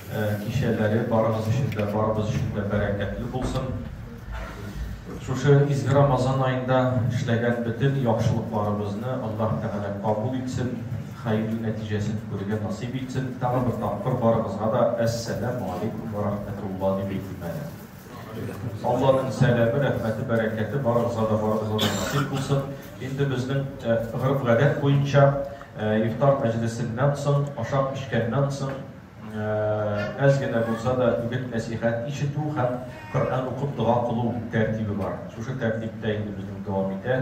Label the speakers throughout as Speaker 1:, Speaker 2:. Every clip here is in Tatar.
Speaker 1: Кичәләре барыгыз өчен дә, барыбыз өчен дә бәрәкәтле булсын. Шушы изге Рамазан аенда эшләгән бөтен яхшылыкларыбызны Аллаһ Тәгалә кабул итсен, хәерле нәтиҗәсен күрергә насыйп итсен. Тагын бер тапкыр барыгызга да Әссәләмү алейкүм вә рахмәтулла дип әйтим әле. Алланың сәләме, рәхмәте, бәрәкәте барыгызга да барыгызга да насыйп булсын. Инде безнең гореф-гадәт буенча ифтар мәҗлесеннән соң, ашап-эчкәннән соң әз генә булса да үгет-нәсыйхәт ишетү һәм Коръән укып дога кылу тәртибе бар. Шушы тәртиптә инде безнең дәвам итә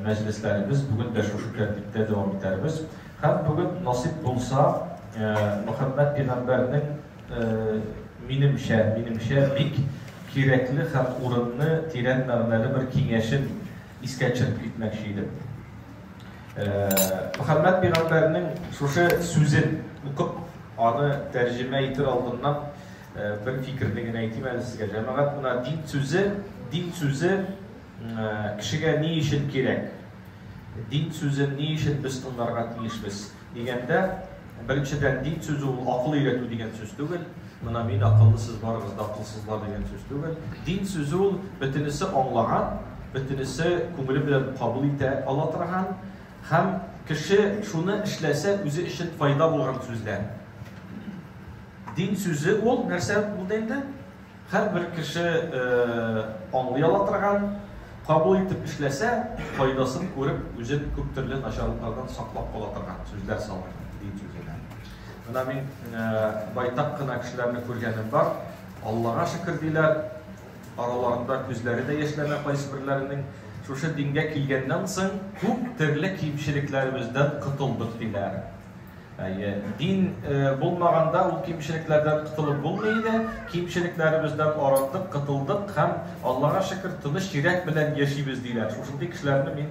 Speaker 1: мәҗлесләребез. Бүген дә шушы тәртиптә дәвам итәрбез. Һәм бүген насыйп булса, Мөхәммәд пигамбәрнең Минемчә, минемчә бик кирәкле һәм урынны тирән мәгънәле бер киңәшен искә төшереп китмәкче идем. Мөхәммәд пигамбәрнең шушы сүзен укып, аны тәрҗемә итер алдыннан бер фикерне генә әйтим әле сезгә. Җәмәгать мына дин сүзе, дин сүзе кешегә ни өчен кирәк? Дин сүзен ни өчен без тыңларга тиешбез? Дигәндә, Беренчедән, дин сүзе ул акыл өйрәтү дигән сүз түгел. Менә мин акыллы, сез барыгыз да акылсызлар дигән сүз түгел. Дин сүзе ул бөтенесе аңлаган, бөтенесе күңеле белән кабул итә ала торган һәм кеше шуны эшләсә үзе өчен файда булган сүзләр. Дин сүзе ул нәрсә булды инде? Һәрбер кеше аңлый ала торган, кабул итеп эшләсә, файдасын күреп, үзен күп төрле начарлыклардан саклап кала торган сүзләр салды, дин сүзенә. Менә мин байтак кына кешеләрне күргәнем бар, Аллага шөкер диләр, араларында күзләре дә яшьләнә кайсыберләренең, шушы дингә килгәннән соң күп төрле кимчелекләребездән котылдык диләр. Әйе, дин булмаганда ул кимчелекләрдән котылып булмый иде. Кимчелекләребездән арындык, котылдык һәм Аллага шөкер, тыныч йөрәк белән яшибез диләр. Шушындый кешеләрне мин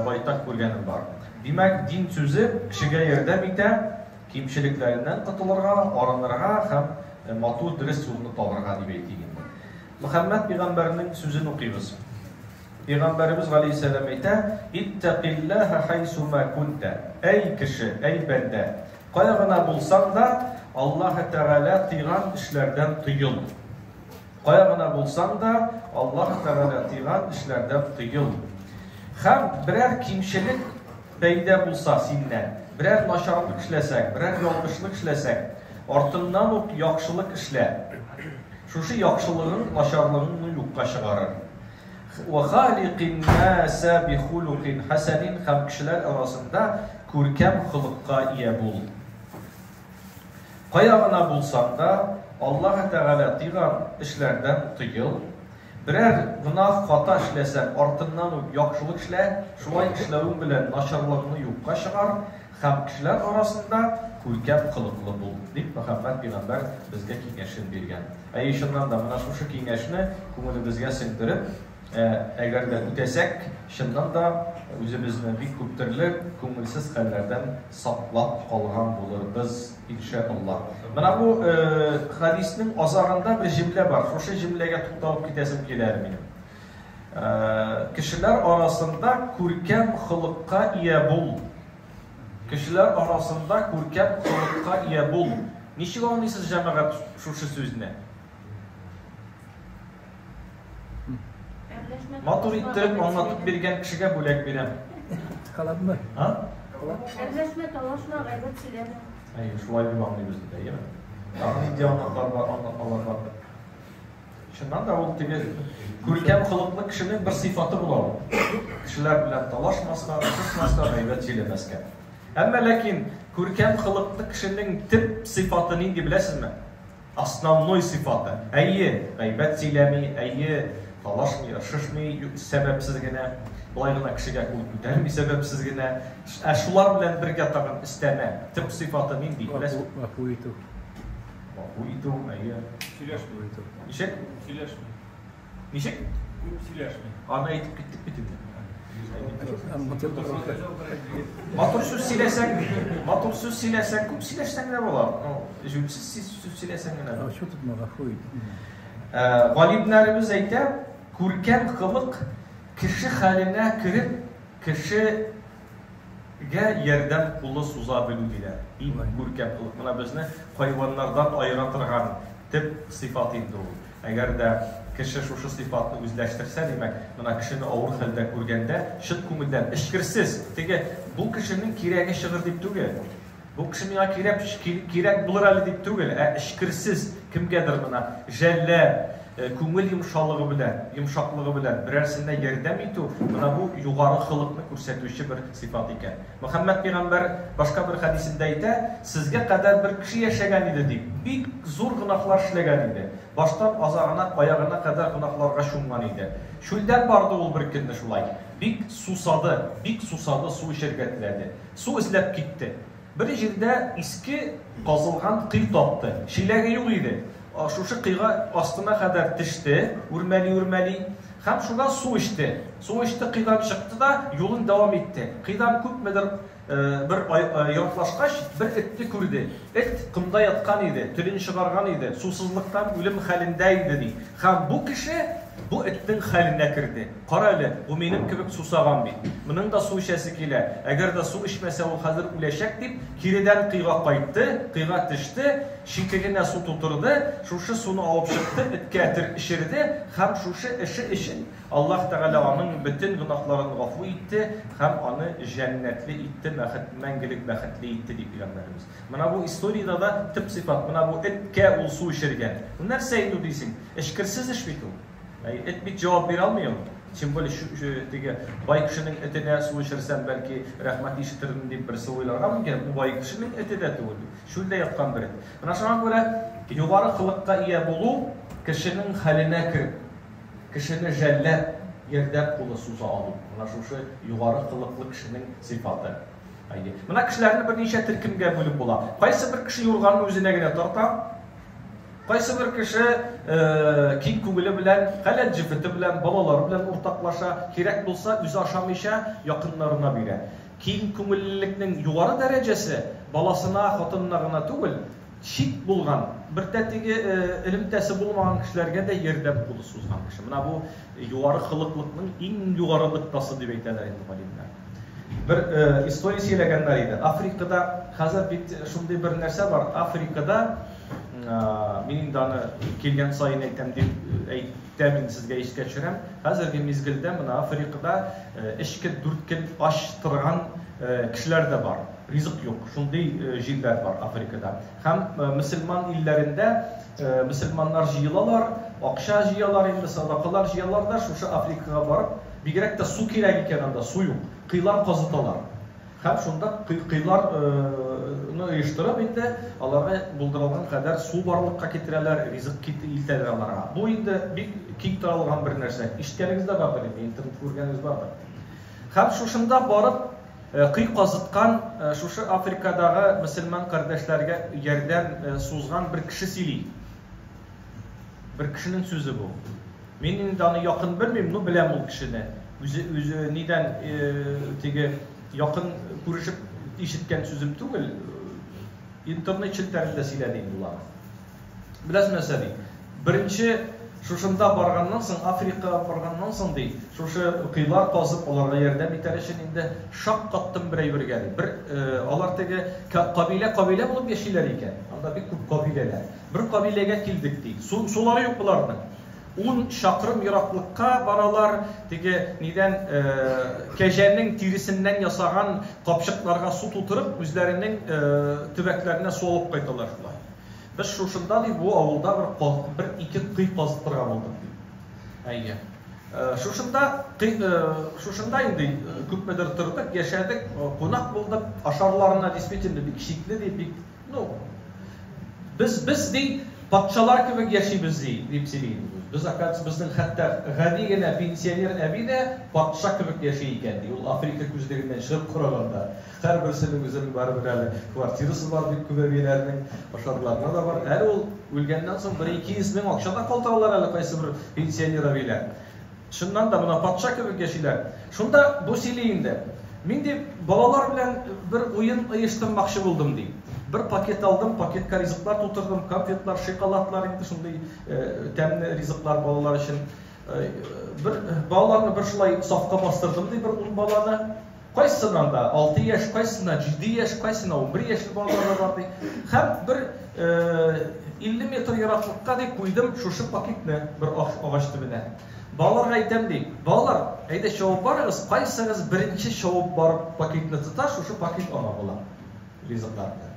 Speaker 1: байтак күргәнем бар. Димәк, дин сүзе кешегә ярдәм итә кимчелекләреннән котылырга, арынырга һәм матур дөрес юлны табарга дип әйтик инде. Мөхәммәд пәйгамбәрнең сүзен укыйбыз. Пәйгамбәребез галәйһиссәлам әйтә, Иттәкилләһә хайсума кунтә. Әй кеше, әй бәндә, кая гына булсаң да, Аллаһы Тәгалә тыйган эшләрдән тыел. Кая гына булсаң да, Аллаһы Тәгалә тыйган эшләрдән тыел. Хәм берәр кимчелек пәйдә булса синнән, берәр начарлык эшләсәк, берәр ялгышлык эшләсәк, артыннан ук яхшылык эшлә. Шушы яхшылыгың начарлыгыңны юкка чыгарыр. Вә халикин наса бихулукин хәсәнин һәм кешеләр арасында күркәм холыкка ия бул. Кая гына булсаң да, Аллаһы Тәгалә тыйган эшләрдән тыел. Берәр гөнаһ хата эшләсәң, артыннан ук яхшылык эшлә, шулай эшләвең белән начарлыгыңны юкка чыгар, Һәм кешеләр арасында күркәм холыклы бул, дип Мөхәммәд пигамбәр безгә киңәшен биргән. Әйе, чыннан да, менә шушы киңәшне күңелебезгә сеңдереп, әгәр дә үтәсәк, чыннан да, үзебезне бик күп төрле күңелсез хәлләрдән саклап калган булырбыз, иншә Аллаһ. Менә бу хәдиснең азагында бер җөмлә бар, шушы җөмләгә тукталып китәсем килә әле минем. Кешеләр арасында күркәм холыкка ия бул. Кешеләр арасында күркәм холыкка ия бул. Ничек аңлыйсыз, җәмәгать, шушы сүзне? Матур иттереп аңлатып биргән кешегә бүләк бирәм. Калабмы? А? Әрләшмә, талашма, гайбәт сөйләмә. Әйе, шулай дип аңлыйбыз бит, әйеме? Тагын нинди аңлатмалар бар? Чыннан да ул теге күркәм холыклы кешенең бер сыйфаты була ул. Кешеләр белән талашмаска, кысмаска, гайбәт сөйләмәскә. Әмма ләкин күркәм холыклы кешенең төп сыйфаты нинди беләсезме? Основной сыйфаты. Әйе, гайбәт сөйләми, әйе, талашмый, ыршышмый сәбәпсез генә, болай гына кешегә кул күтәрми сәбәпсез генә. Ә шулар белән бергә тагын өстәмә төп сыйфаты нинди? Гафу итү. Гафу итү, әйе. Сөйләшми. Ничек? Сөйләшми. Ничек? Күп сөйләшми. Аны әйтеп киттек бит инде. Матур сүз сөйләсәң, матур сүз сөйләсәң, күп сөйләшсәң дә була. Ну, җүнсез сүз сөйләсәң генә. Ачу тотма, гафу ит. Галимнәребез әйтә, күркәм кылык кеше хәленә кереп, кеше Гә ярдәм кулы суза белү диләр. Иң күркәм кылык. Менә безне хайваннардан аера торган төп сыйфат инде ул. Әгәр дә кеше шушы сыйфатны үзләштерсә, димәк, менә кешене авыр хәлдә күргәндә, чын күңелдән, эчкерсез, теге, бу кешенең кирәге чыгыр дип түгел, Бу кеше миңа кирәк, кирәк булыр әле дип түгел, ә эчкерсез кемгәдер гына жәлләп, күңел йомшалыгы белән, йомшаклыгы белән берәрсенә ярдәм итү, менә бу югары холыкны күрсәтүче бер сыйфат икән. Мөхәммәд пәйгамбәр башка бер хәдисендә әйтә, Сезгә кадәр бер кеше яшәгән иде, дип, бик зур гөнаһлар эшләгән иде. Баштан азагына, аягына кадәр гөнаһларга чумган иде. Чүлдән барды ул беркөнне шулай. Бик сусады, бик сусады, су эчәргә теләде. Су эзләп китте. Бер җирдә иске казылган кый тапты. Чиләге юк иде. Шушы кыйга астына кадәр теште, үрмәли-үрмәли. Һәм шуннан су эчте. Су эчте, кыйдан чыкты да юлын дәвам итте. Кыйдан күпмедер бер ераклашкач, бер этне күрде. Эт комда яткан иде, телен чыгарган иде, сусызлыктан үлем хәлендә иде, ди. Һәм бу кеше бу этнең хәленә керде. Кара әле, бу минем кебек сусаган бит. Моның да су эчәсе килә. Әгәр дә су эчмәсә, ул хәзер үләчәк, дип, киредән кыйга кайтты, кыйга төште, читегенә су тутырды, шушы суны алып чыкты, эткә этер эчерде һәм шушы эше өчен Аллаһ Тәгалә аның бөтен гөнаһларын гафу итте һәм аны җәннәтле итте, мәхет, мәңгелек бәхетле итте, ди Пәйгамбәребез. Менә бу историядә дә төп сыйфат, менә бу эткә ул су эчергән. Бу нәрсә инде дисең? Эчкерсез эш бит ул. Әй, эт бит җавап бирә алмый ул. Тем более чү, чү, теге бай кешенең эте дә су эчерсәм, бәлки, рәхмәт ишетермен дип берсе уйларга мөмкин. Бу бай кешенең эте дә түгел бит. Чүлдә яткан бер эт. Менә шуңа күрә югары кылыкка ия булу кешенең хәленә кереп, кешене жәлләп, ярдәм кулы суза алу, менә шушы югары кылыклы кешенең сыйфаты. Әйе. Менә кешеләрне берничә төркемгә бүлеп була. Кайсы бер кеше юрганны үзенә генә тарта. Кайсыбер кеше киң күңеле белән, халәл җефете белән, балалары белән уртаклаша, кирәк булса, үзе ашамыйча, якыннарына бирә. Киң күңеллелекнең югары дәрәҗәсе баласына, хатынына гына түгел, чит булган, бер тәтеге элемтәсе булмаган кешеләргә дә ярдәм кулы сузган кеше. Менә бу югары холыклыкның иң югары ныктасы дип әйтәләр инде галимнәр. Бер история сөйләгәннәр иде. Африкада хәзер бит шундый бер нәрсә бар. Африкада мин инде аны килгән саен әйтәм дип әйтәм инде сезгә искә төшерәм. Хәзерге мизгелдә мына Африкада эчке дүрткел ач торган кешеләр дә бар. Ризык юк. Шундый җирләр бар Африкада. Һәм мөселман илләрендә мөселманнар җыелалар, акча җыялар инде, садакалар җыялар да шушы Африкага барып, бигрәк тә су кирәк икән анда, су юк, кыйлар казыталар. Һәм шунда кыйлар ны оештырып инде, аларга булдырылган кадәр су барлыкка китерәләр, ризык кит илтәләр аларга. Бу инде бик киң таралган бер нәрсә. Ишеткәнегез дә бардыр инде, интернетта күргәнегез бардыр. Һәм шушында барып, Көй казыткан, шушы Африкадагы мөселман кардәшләргә ярдәм сузган бер кеше сөйли. Бер кешенең сүзе бу. Мин инде аны якын белмим, ну беләм ул кешене. Үзе үзе нидән теге якын күрешеп ишеткән сүзем түгел, интернет челтәрендә сөйләде инде ул аны. Беләсез нәрсә, ди, беренче шушында барганнан соң, Африка барганнан соң, ди, шушы коелар казып, аларга ярдәм итәр өчен инде шаккаттым бер әйбергә, ди. Бер, алар теге кабилә-кабилә булып яшиләр икән. Анда бик күп кабиләләр. Бер кабиләгә килдек, ди. Су, сулары юк боларның. Ун чакрым ераклыкка баралар, теге нидән, кәҗәнең тиресеннән ясаган капчыкларга су тутырып, үзләренең төбәкләренә су алып кайталар шулай. Без шушында, ди, бу авылда бер каз, бер ике кой казып торган булдык, ди. Әйе. Шушында, кой, шушында инде күпмедер тордык, яшәдек, кунак булдык, ашарларына действительно бик шикле, ди, бик, ну, без, без, ди, патшалар кебек яшибез, ди, дип сөйли инде ул. Без, оказывается, безнең хәтта гади генә пенсионер әби дә патша кебек яши икән, ди, ул Африка күзлегеннән чыгып караганда. Һәрберсенең үзенең барыбер әле квартирасы бар бит күп әбиләрнең, ошарларына да бар. Әле ул үлгәннән соң бер 200 мең акча да калдыралар әле кайсыбер пенсионер әбиләр. Чыннан да мына патша кебек яшиләр. Шунда бу сөйли инде. Мин ди балалар белән бер уен оештырмакчы булдым ди. Бер пакет алдым, пакетка ризыклар тутырдым, конфетлар, шиколадлар инде шундый тәмле ризыклар балалар өчен. Бер балаларны бер шулай сафка бастырдым ди, бер ун баланы. Кайсысыннан да алты яшь, кайсысыннан җиде яшь, кайсына унбер яшьле балалар да бар, ди. Һәм бер 50 метр ераклыкка, ди, куйдым шушы пакетны бер агач төбенә. Балаларга әйтәм, ди, балалар, әйдә чабып барыгыз, кайсыгыз беренче чабып барып пакетны тота, шушы пакет аңа була, ризыкларны.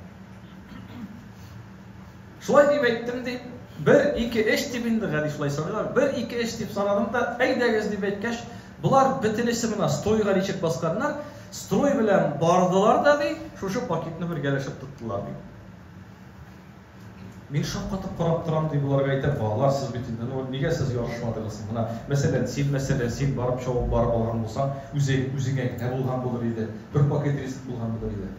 Speaker 1: Шулай дип әйттем, дип, бер, ике, өч дип инде, гади шулай саныйлар, бер, ике, өч дип санадым да, әйдәгез, дип әйткәч, болар бөтенесе мына стройга ничек басканнар, строй белән бардылар да, ди, шушы пакетны бергәләшеп тоттылар, ди. Мин шаккатып карап торам, ди, боларга әйтәм, балалар, сез бит инде, ну, нигә сез ярышмадыгыз соң? Менә, мәсәлән, син, мәсәлән, син барып чабып барып алган булсаң, үзең, үзеңә генә булган булыр иде, бер пакет ризык булган булыр иде.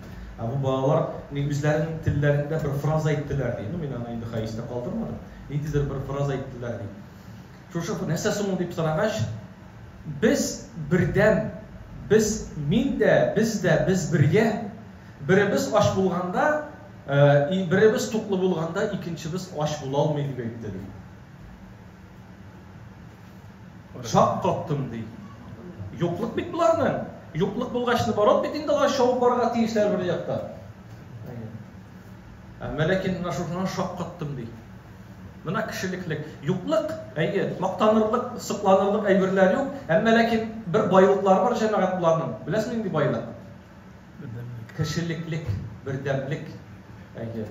Speaker 1: Ә бу балалар ни үзләренең телләрендә бер фраза әйттеләр ди. Ну, мин аны инде хәистә калдырмадым. Ниндидер бер фраза әйттеләр ди. Шушы нәрсә соң дип сорагач, без бердән, без мин дә, без дә, без бергә. Беребез ач булганда, э, беребез туклы булганда, икенчебез ач була алмый дип әйтте ди. Шак каттым, ди. Юклык бит боларның. Юклык булгач, наоборот бит инде алар шауып барырга тиешләр бер яктан. Әмма ләкин менә шушыннан шак каттым, ди. Менә кешелеклек, юклык, әйе, мактанырлык, сокланырлык әйберләр юк, әмма ләкин бер байлыклары бар җәмәгать буларның. Беләсез нинди байлык? Кешелеклек, бердәмлек. Әйе.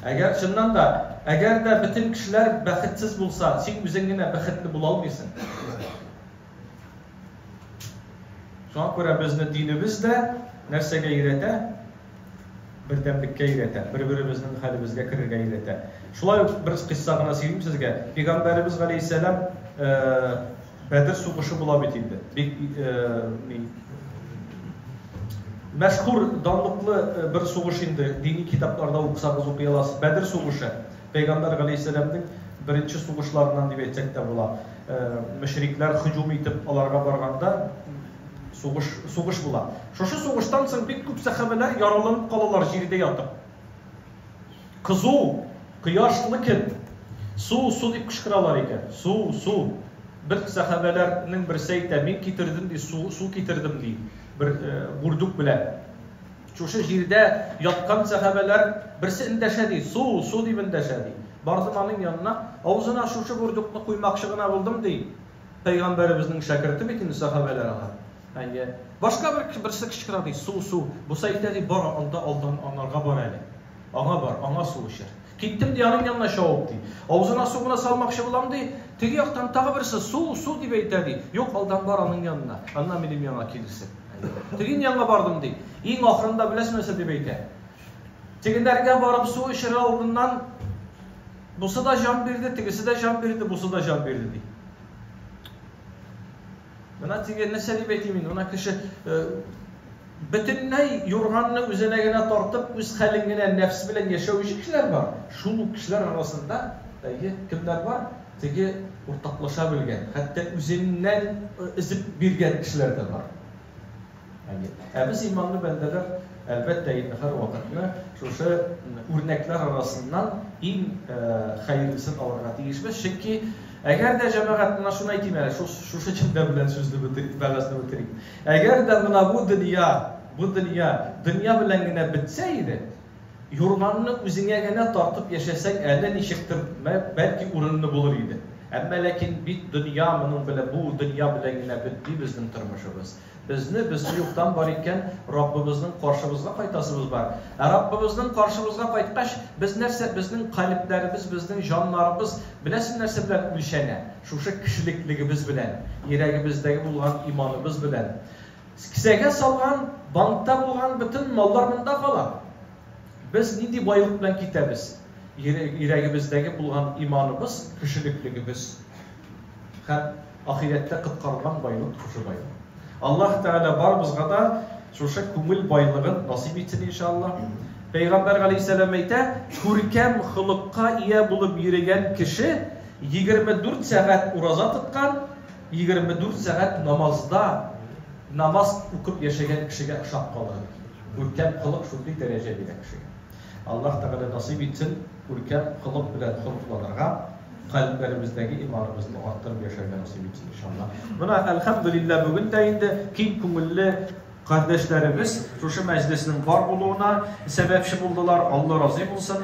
Speaker 1: Әгәр, чыннан да, әгәр дә бөтен кешеләр бәхетсез булса, син үзең генә бәхетле була алмыйсың. Шуңа күрә безне динебез дә нәрсәгә өйрәтә? Бердәмлеккә өйрәтә, бер-беребезнең хәлебезгә керергә өйрәтә. Шулай ук бер кыйсса гына сөйлим сезгә. Пәйгамбәребез галәйһиссәлам Бәдер сугышы була бит инде. Бик мәшһүр, данлыклы бер сугыш инде. Дини китапларда укысагыз укый аласыз. Бәдер сугышы. Пәйгамбәр галәйһиссәламнең беренче сугышларыннан дип әйтсәк тә була. Мөшрикләр һөҗүм итеп аларга барганда сугыш сугыш була. Шушы сугыштан соң бик күп сәхабәләр яраланып калалар җирдә ятып. Кызу, кояш мы кем? Су, су дип кычкыралар икән. Су, су. Бер сәхабәләр нең берсе әйтә, мин китердем ди, су, су китердем ди, бер бурдюк белән. Шушы җирдә яткан сәхабәләр берсе эндәшә ди, су, су дип эндәшә ди. Бардым аның янына, авызына шушы бурдюкны куймакчы гына булдым ди. Пәйгамбәребезнең шәкерте бит инде сәхабәләр алар. Әйе. Башка бер берсе кычкыра ди, су, су. Буса әйтә ди, бар алда, алдан анарга бар әле. Аңа бар, аңа су эчер. Киттем ди, аның янына чабып ди. Авызына су гына салмакчы булам ди, теге яктан тагы берсе су, су дип әйтә ди. Юк, алдан бар аның янына, аннан минем янга килерсең. Тегин янга бардым ди. Иң ахырында беләсең нәрсә дип әйтә? Тегеләргә барып су эчерер алдыннан, Бусы да җан бирде, тегесе дә җан бирде, бусы да җан бирде, ди. Менә теге нәрсә дип әйтим инде, менә кеше э, бөтенләй юрганны үзенә генә тартып, үз хәлен генә нәфс белән яшәүче кешеләр бар. Шул ук кешеләр арасында әйе, кемнәр бар? Теге уртаклаша белгән, хәтта үзеннән э, өзеп биргән кешеләр дә бар. Ә без, иманлы бәндәләр, әлбәттә инде, һәрвакытны шушы үрнәкләр арасыннан иң хәерлесен алырга тиешбез, чөнки әгәр дә, җәмәгать, менә шуны әйтим әле, шушы җөмлә белән сүзне бетерик, вәгазьне бетерик, әгәр дә менә бу дөнья, бу дөнья дөнья белән генә бетсә иде, Юрганны үзеңә генә тартып яшәсәң әле ничектер, бәлки урынлы булыр иде. Әмма ләкин бит дөнья моның белән, бу дөнья белән генә бетми безнең тормышыбыз. Безне, без юктан бар икән, Раббыбызның каршыбызга кайтасыбыз бар. Ә Раббыбызның каршыбызга кайткач, без нәрсә, безнең калебләребез, безнең җаннарыбыз беләсең нәрсә белән үлчәнә? Шушы кешелеклегебез белән, йөрәгебездәге булган иманыбыз белән. Кесәгә салган, банкта булган бөтен маллар монда кала. Без нинди байлык белән китәбез? Йөрәгебездәге булган иманыбыз, кешелеклегебез һәм ахирәттә коткарылган байлык шушы байлык. Аллаһ Тәгалә барыбызга да шушы күңел байлыгын насыйп итсен, иншааллаһ. Пәйгамбәр галәйһиссәлам әйтә, Күркәм холыкка ия булып йөрегән кеше, егерме дүрт сәгать ураза тоткан, 24 сәгать намазда намаз укып яшәгән кешегә ошап калырга мөмкин. Күркәм холык шундый дәрәҗә бирә кешегә. Аллаһ Тәгалә насыйп итсен, күркәм холык белән холыкланырга, кальбләребездәге иманыбызны арттырып яшәргә насыйп итсен, иншаллаһ. Менә, әлхәмдүлилләһ, бүген дә инде киң күңелле кардәшләребез шушы мәҗлеснең бар булуына сәбәпче булдылар, Алла разый булсын.